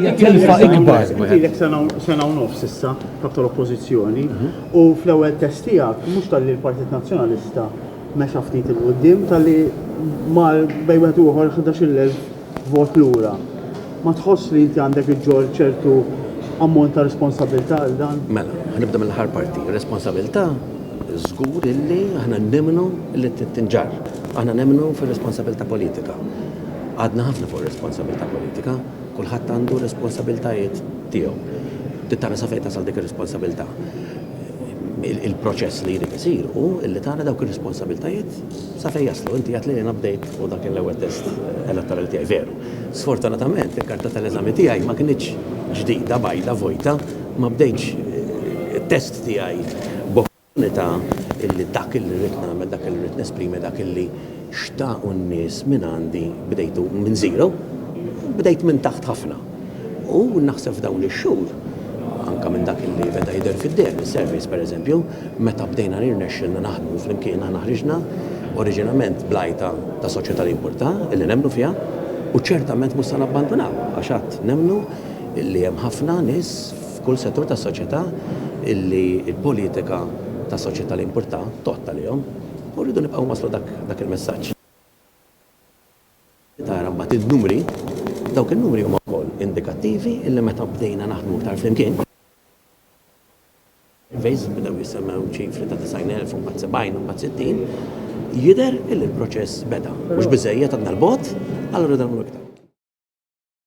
hija tilfa ikbar. Ilek sena u nofs issa kap tal-oppożizzjoni mhm. u fl-ewwel test tiegħek mhux tal-li l-Partit Nazzjonalista mexa ftit il-qudiem tal-li mal bej wieħed uħor 11,000 vot lura. Ma tħoss li inti għandek iġġor ċertu ammont ta' responsabilità għal dan? Mela, ħanibda mill-ħar parti. Responsabilità żgur illi aħna nemmnu li tinġar. Aħna nemmnu fir-responsabilità politika. Għadna ħafna fuq ir-responsabilità politika. Kulħadd għandu r-responsabiltajiet tiegħu. Trid tara sa fejn tasal dik ir-responsabilità. Il-proċess li jrid isir hu li tara dawk ir-responsabiltajiet sa fejn jaslu. Inti għedt li jiena bdejt u dak kien l-ewwel test elettorali tiegħi. Veru. Sfortunatament il-karta tal-eżami tiegħi ma kinitx ġdida, bajda, vojta. Ma bdejtx it-test tiegħi b'. L-opportunità illi dak illi rrid nagħmel, dak illi rrid nesprimi, dak illi xtaqu n-nies minn għandi bdejtu minn zero, bdejt minn taħt ħafna. U naħseb f'dawn ix-xhur, anke minn dak illi beda jidher fid-deher mis-surveys pereżempju, meta bdejna rnexxielna naħdmu flimkien aħna ħriġna oriġinament bl-għajta ta' soċjetà li jimpurtha, illi nemmnu fiha, u ċertament mhux se nabbandunaw għax għad nemmnu illi hemm ħafna nies, f'kull settur tas-soċjetà illi l-politika ta' soċjetà li importha tgħodd għalihom u rridu nibqgħu nwasslu dak il-messaġġ. Tara mbagħad in-numri, dawk in-numri huma wkoll indikattivi illi meta bdejna naħdmu iktar flimkien, fejn bdew jissemmew ċifri ta' 90,000 u mbagħad 70 u mbagħad 60, jidher illi l-proċess beda. Mhux biżżejjed għadna 'l bogħod, allura rridu nagħmlu iktar.